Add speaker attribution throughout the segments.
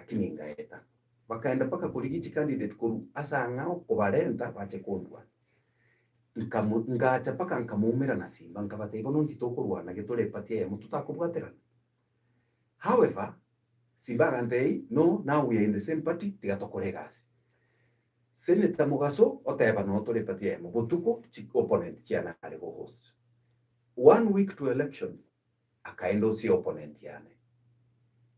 Speaker 1: lakini ngaeta. Bakaenda mpaka korigi chicandidate korwa ase ang'ao kobarenta bache kondwana. Nkamu, ngacha mpaka nkamoumera na simba nkabatebia bono inki tokorwana gete ore party eyemo totakobwaterana? However, simba agantebia no now we are in the same party tiga tokore egasi. Senator Mogaso oteba no tore party eyemo botuko chi opponent chiane are go host. One week to elections Akaenda ase opponent yane.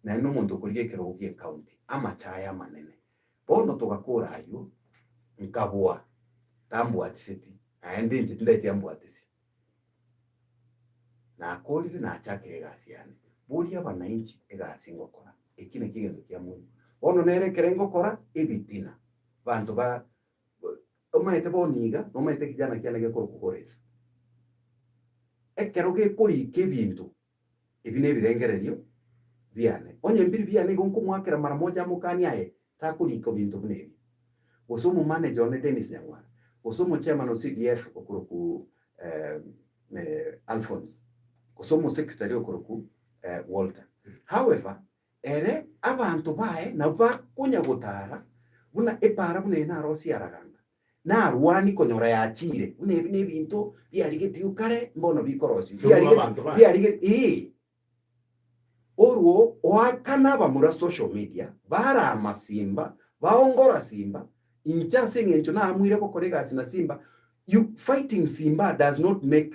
Speaker 1: Nare nomonto okorigia ekerogo gie county, amache aye amanene. Bono togakora ayio, nkaboa, tambwatiseti, naende inche tindaeti ambwatisi. Nakorire nachakire egasi yane. Boria abananchi egasi ngokora, eki nakio egento kiamoino. Bono nere ekero ngokora ebitina, banto ba. Omaete bono iga, nomaete ekejana kiane gekorokwa Kores. Ekero gekoriika ebinto ebi nebirengererio biane, onye mpiri biane igo nkomoakera mara moja amokani aye takoriika ebinto buna ebi, gose omomanage one Dennis Nyang'wara, gose omochairman o CDF okorokwa Alphonse, gose omosecretary okorokwa Walter. However, Ere abanto baye nabwo bakonyagotaara buna epaara buna eye narosie araganga, narwani konyora yachiire, buna ebi nebinto biarigetigwe kare mbono bikorosiwa, Ase buna abanto baye. biarigetigwe, ee, orwo oakana abamura social media barama simba, baongora simba, inche ase engencho naamwire gokora egasi na simba, you fighting simba does not make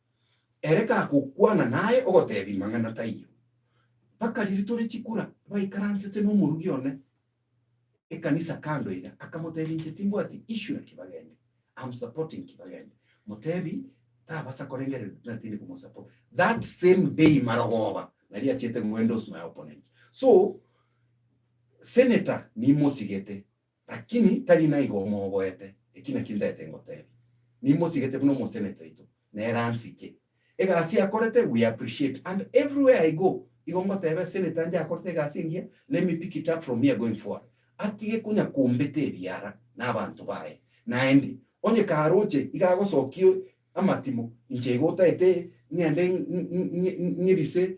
Speaker 1: Ere kagokwana naye ogotebi mang'ana taiyo. Mpaka riria tore chikura baikaransete nomorugi one ekanisa kando iga akamotebi inche timbwati issue na kibagende am supporting kibagende motebi tabasa korengereria buna tindi komosupport that same day marogoba naria achiete ngo endorse my opponent so senator nimosigete Lakini tari naigo omoboete, eki nakio ntaete ngoteebia, Nimosigete buna omoseneta oito, nere ansike. Egasi akorete we appreciate and everywhere I go igo ngoteeba eseneta anje akorete egasi engiya, let me pick it up from here going forward. Atige konya kombeta ebiara na abanto baye. Naende, onye karoche iga agosokia amatimo, inche igo otaete ng'ende ng'erise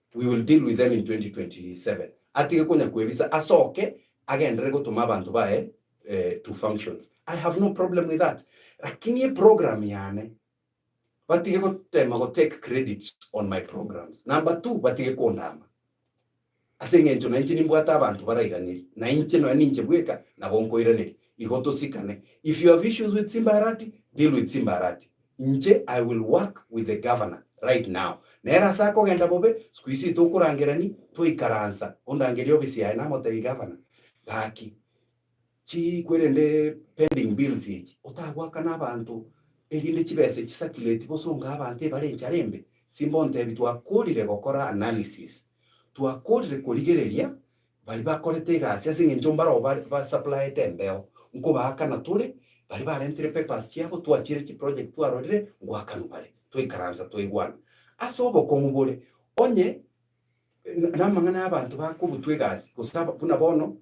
Speaker 1: We will deal with them in 2027. Atige konya kwebisa asoke agendere gotoma abanto baye to functions. I have no problem with that. Lakini e program yane batige gotema go take credit on my programs. Number two batige kondama ase engencho nainche nimbwate abanto barairaneri nainche nonya ninche bweka nabo nkoiraneria. Igo tosikane. If you have issues with Simba Arati, deal with Simba Arati. Inche I will work with the governor right now, nere ase akogenda bobe, sikuisi tokorangerani, twaikaransa, ondangerie office yaye namotebie governor, gaki chikwerende pending bills echi, otagoakana abanto erinde chibesa echi circulate gose ongae abanto ebare enchara embe, simba ontebi twakorire gokora analysis, twakorire korigereria Baria bakorete egasi ase engencho mbarabwo bare ba suppliete embeo nkobaakana tore, baria barentire papers chiabo twachiire chi project twarorire ngoakanwa bare, twaikaransa twaigwana ase obokong'u bore onye na amang'ana ya abanto bakorutwa egasi gose aba buna bono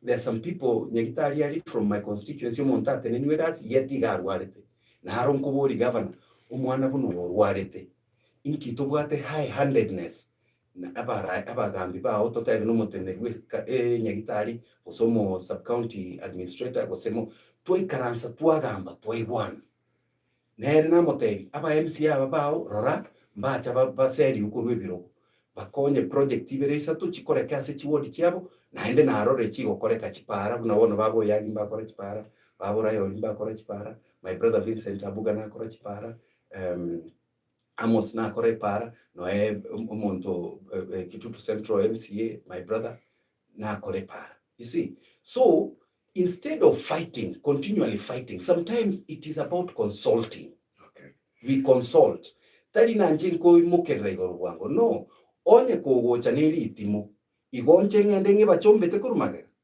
Speaker 1: there are some people nyagitari aria from my constituency omonto ateneniwe egasi yet iga arwarete naro nkoboria governor omwana buna oyo orwarete inki tobwate high handedness Na abarae abagaambi bao toteebe nomoteneneri bw'Eka ee Nyagitari, gose omo Sub-County Administrator, gose mo. Twaikaransa twagaamba twaigwana. Na ere namoteebia, Aba MC aba bao, rora, mbacha baserie okorwa ebirogo, bakonye project ibere isato chikoreke ase chiward chiabo, naende narore chigokoreka chipaara buna bono Baba Oyagi mbakora chipaara, Baba Orayoli mbakora chipaara, my brother Vincent Abuga nakora chipaara, ehm. Amos nakora epaara noe omonto Kitutu central mca my brother nakora epaara you see so instead of fighting continually fighting sometimes it is about consulting okay. we
Speaker 2: consult
Speaker 1: tari nanche nkoimokerera igoro bwango no onye kogocha neritimo igo nche ng'ende ng'ebachombete korwa magega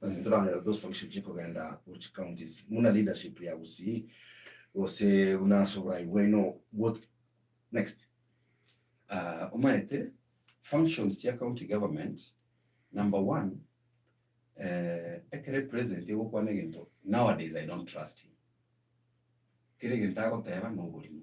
Speaker 2: Naki toranyore those functions chia kogenda go chi counties buna leadership ya Gusii gose buna ase oborai bwaino bwothe? Next. Ah,
Speaker 1: omaete, functions chia county government, number one, eh, ekere president egokwana egento, nowadays I don't trust him. Kera egento agoteba noborimo.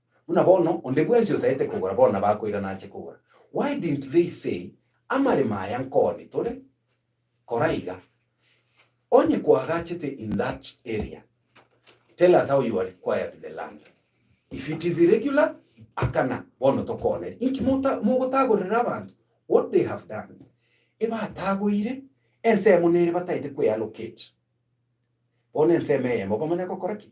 Speaker 1: Buna bono onde bwensi otaete kogora bono nabakoirana ache kogora. Why didn't they say, Amaremo aya nkoni tore? Kora iga. Onye kwagachete in that area, tell us how you acquired the land. If it is irregular, akana, bono tokoonere. Inki mogotagorera abanto what they have done? Ebatagoire, ensemo nere bataete kweallocate. Bono ensemo eyemo bamanya gokora ki?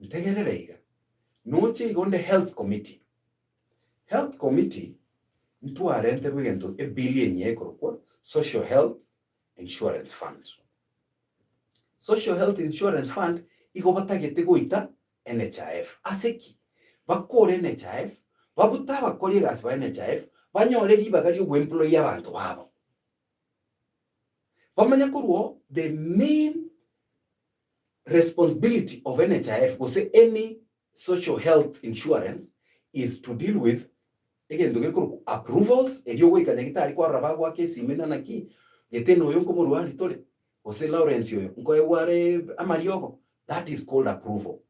Speaker 1: Ntegerere iga. Noche igo nde health committee. Health committee ntwarenterwe egento e bill enyia ekorokwa social health insurance fund. Social health insurance fund igo batagete goita NHIF. Ase ki? Bakore NHIF, babute abakori egasi ba NHIF banyore ribaga rio goemployer abanto babo. Bamanye korwa o the main Responsibility of NHIF gose any social health insurance is to deal with egento gekorokwa approvals erio ogoika nyagitari kwarora bagoaka esimi buna naki Gitena oyo nkomorwari tore gose Lawrence oyo nkoegwa are amariogo that is called approval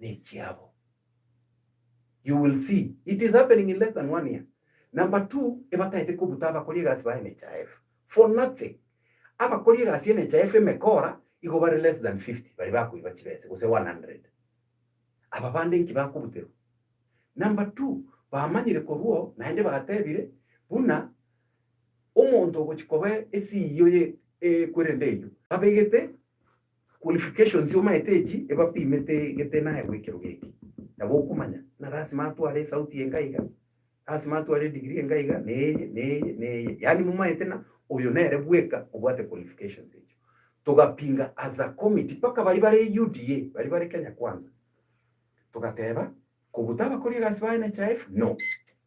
Speaker 1: nechiabo. You will see it is happening in less than one year. Number two, ebataete kobuta abakori egasi ba NHIF for nothing. Abakori egasi ya NHIF emekora igo bare less than fifty baria bakoiba chibese gose one hundred. Aba bande inki bakobuterwa? Number two, bamanyire korwa oo naende batebire buna omonto ogochia koba esiiyo ye ekwerende eyio. Babegete Qualifications omaete echi ebapimete gete naye gwekero geke nabo okomanya na lasima atware esauti eye nka iga lasima atware edigiri eye nka iga na eye na eye na eye yaani momaete na oyo nere bweka obwate qualifications echio togapinga as a committee mpaka baria bare UDA baria bare Kenya kwanza togateba kobuta abakori egasi baye NHIF no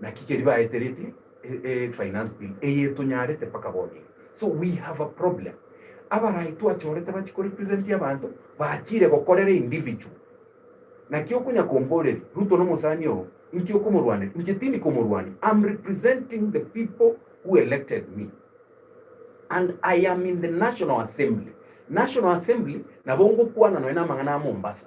Speaker 1: Naki keria baetereti e finance bill eye etonyarete mpaka bono iga. So we have a problem. Abarai twachorete bachi ko represent abanto bachire gokorera individual. Naki okonya komboreria Ruto nomosani oo inki okomorwanera inche tindi komorwania am representing the people who elected me and I am in the national assembly. National assembly nabo ngokwana nonya namang'ana a Mombasa.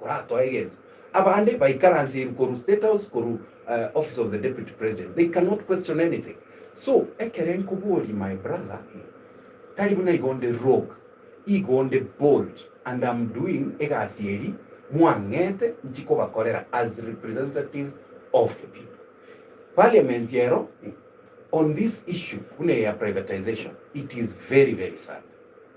Speaker 1: Koratoe egento. Abande baikaranseiru korwa State House korwa Office of the Deputy President they cannot question anything so ekero nkoboria my brother tari buna igo onde rogue igo onde bold and am doing egasi eri mwang'ete nchi kobakorera as representative of the people Parliament ero on this issue buna eye ya privatization it is very very sad.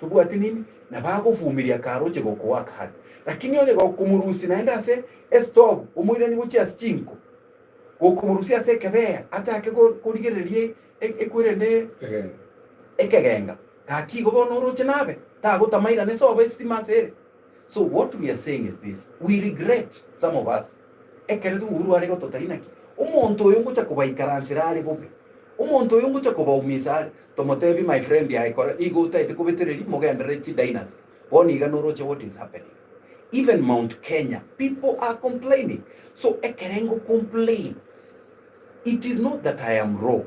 Speaker 1: Tobwati nini nabagofumiria karoche gokoaka hake, lakini onye gokomorusia naende ase esitobu omoirani gochia ase chinko, gokomorusia ase ekebeya achake korigereria ekwere ne ekegenga, gaki igo bono oroche nabe tagotamairana esobo esitima ase ere. So what we are saying is this, we regret some of us ekero togokwa are igo totari naki, omonto oyo ngocha kobaikaransera are bobe, omonto oyo ngocha kobaumisa are, tomotebie my friend aye kora nigo otaete kobetereria mogenderere chi dynasty, bono iga noroche what is happening even Mount Kenya people are complaining, so ekero engo complain it is not that I am wrong,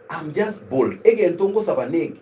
Speaker 1: I'm just bold, egento ngosaba neke